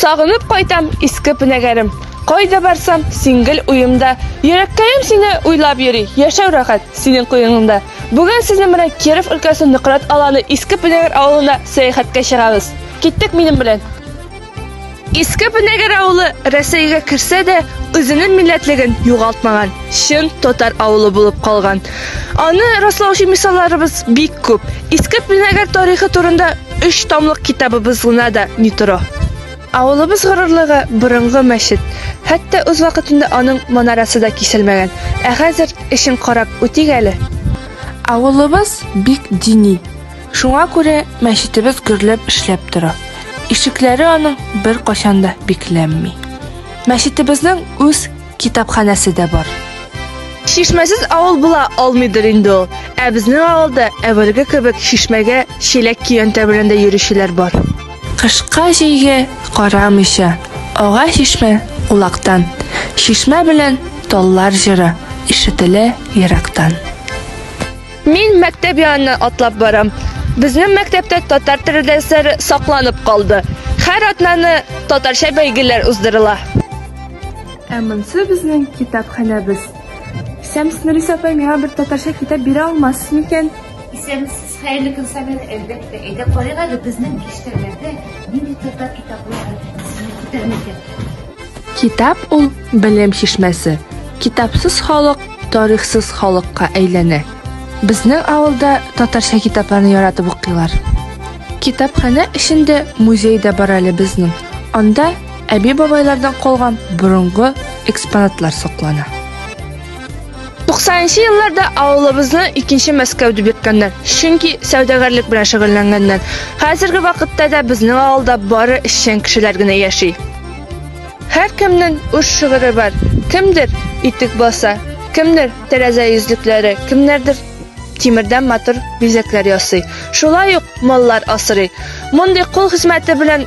Сагынып кайтам иске пенәгәрем. Кайда барсам, син гел уемда. Йөрәккәем сине уйлап йөри, яшәү рәхәт синең куеңыңда. Бүген сезнең белән Киров өлкәсе Нократ аланы Иске Пенәгер авылына сәяхәткә чыгабыз. Киттек минем белән. Иске Пенәгер авылы Рәсәйгә керсә дә, үзенең милләтлеген югалтмаган, чын татар авылы булып калган. Аны раслаучы мисалларыбыз бик күп. Иске Пенәгер тарихы турында Өч томлык китабыбыз гына да ни тора. Авылыбыз горурлыгы, борынгы мәчет. Хәтта үз вакытында аның манарасы да киселмәгән. Ә хәзер эшен карап үтик әле. Авылыбыз бик дини. Шуңа күрә мәчетебез гөрләп эшләп тора. Ишекләре аның беркайчан да бикләнми. Мәчетебезнең үз китапханәсе дә бар. Шишмәсез авыл була алмыйдыр инде ул. Ә безнең авылда әвәлге кебек шишмәгә чиләк көянтә белән дә йөрүчеләр бар. Кышка җәйгә карамыйча, ага чишмә улактан. Шишмә белән таллар җыры ишетелә ерактан. Мин мәктәп яныннан атлап барам. Безнең мәктәптә татар теле дәресләре сакланып калды. Һәр атнаны татарча бәйгеләр уздырыла. Ә монсы безнең китапханәбез. Исәмсез, Нурис апай, миңа бер татарча китап бирә алмассыз микән? Исәмсез, хәерле көн, Сабир, әлбәттә. Әйдә карыйк әле безнең биштәрләрдә нинди татар китаплары сезне күтәрмәгән. Китап ул белем чишмәсе. Китапсыз халык тарихсыз халыкка әйләнә. Безнең авылда татарча китапларны яратып укыйлар. Китапханә эчендә музей дә бар әле безнең. Анда әби-бабайлардан калган борынгы экспонатлар саклана. 90 елларда авылыбызны икенче Мәскәү дип йөрткәннәр. Чөнки сәүдәгәрлек белән шөгыльләнгәннәр. Хәзерге вакытта да безнең авылда бары эшчән кешеләр генә яши. Һәркемнең үз шигыре бар. Кемдер итек баса, кемдер тәрәзә йөзлекләре, кемнәрдер тимердән матур бизәкләр ясый. Шулай ук маллар асрый. Мондый кул хезмәте белән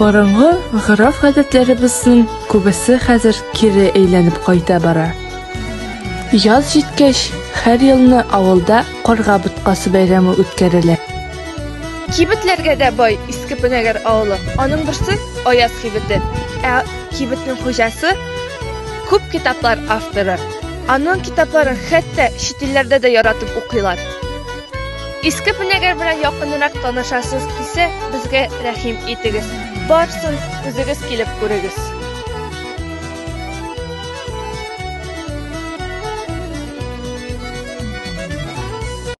Борынгы гырыф-гадәтләребезнең күбесе хәзер кире әйләнеп кайта бара. Яз җиткәч, һәр елны авылда карга боткасы бәйрәме үткәрелә. Кибетләргә дә бай Иске Пенәгәр авылы. Аның берсе Аяз кибете. Ә кибетнең хуҗасы күп китаплар авторы. Аның китапларын хәтта чит илләрдә дә яратып укыйлар. Иске пенәгәр белән якынрак танышасыз кисә, безгә рәхим итегез. Барсын, үзегез килеп күрегез.